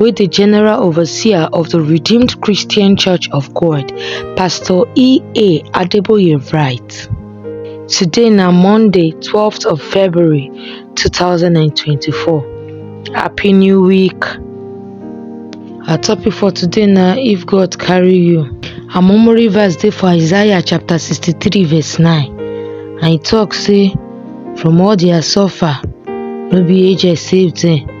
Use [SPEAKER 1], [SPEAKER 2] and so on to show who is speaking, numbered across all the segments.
[SPEAKER 1] wey di general overseer of di redeemed christian church of god pastor ea adeboye write today na monday 12th of february 2024 happy new week our topic for today na if god carry you our memory verse dey for isaiah chapter 63 verse 9 and e tok say from all dia suffer no be age save dem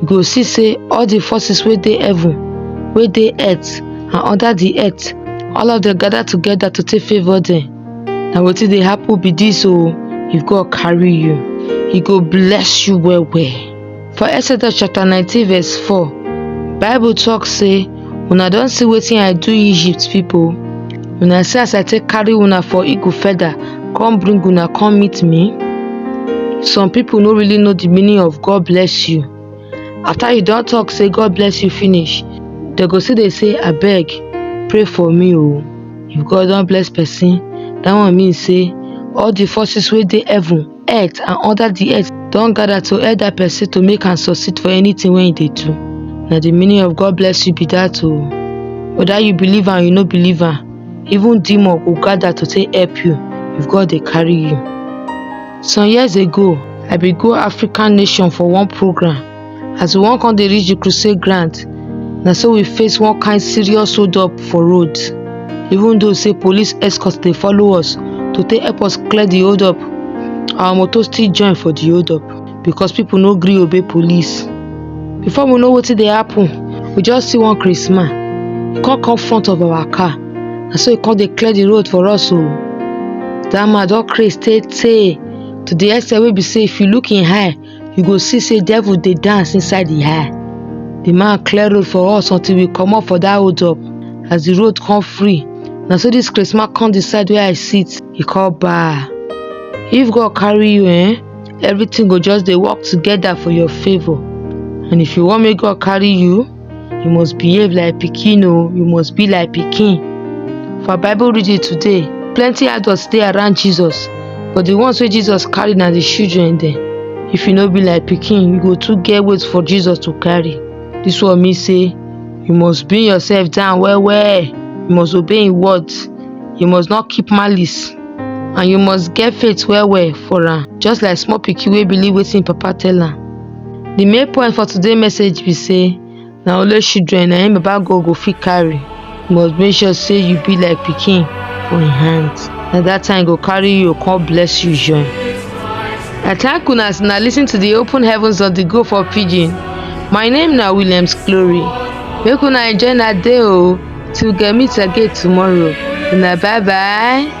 [SPEAKER 1] you go see sey all the forces wey dey heaven, wey dey earth and under the earth, all of dem gather together to take favour dem. Na wetin dey happen be dis o, if God carry you, e go bless you well well. For Exodus chapter nineteen verse four, bible talk sey. Una don see wetin I do Egypt people? Una see as I take carry una for eagle feather come bring una come meet me? Some people no really know the meaning of God bless you. After you don talk say God bless you finish, they go still dey say abeg pray for me o. If God don bless person, that one mean say all the forces wey dey heaven earth and under di earth don gather to help dat person to make am succeed for anything wey e dey do na di meaning of God bless you be dat o whether you believe am you no believe am even demon go gather to take help you if God dey carry you some years ago I bin go African nation for one program as we wan come dey reach the crusade ground na so we face one kind serious hold up for road even though say police escort dey follow us to take help us clear the hold up our motor still join for the hold up because people no gree obey police before we know wetin dey happen we just see one christmas e come come front of our car na so e come dey clear the road for us o that man don craze tey tey to the extent wey be say if you look him eye you go see say devil dey dance inside the eye the man clear road for us until we comot for that hold up as the road come free na so this christmas come decide where i sit e come bar if god carry you eh everything go just dey work together for your favour and if you wan make god carry you you must behave like pikin o you must be like pikin for bible reading today plenty adults dey around jesus but the ones wey jesus carry na the children dem if you no be like pikin you go too get weight for jesus to carry this one mean say you must bring yourself down well well you must obey him words you must not keep malice and you must get faith well well for am just like small pikin wey believe wetin him papa tell am The main point for today message be say na only children na im Baba God go fit carry. You must make sure say you be like pikin for im hand. Na that time go carry you come bless you join. I thank una as una listen to the open heavens of the go for pidgin. My name na Williams Glory. Make una enjoy na day o till we get meet again tomorrow. Una bye bye.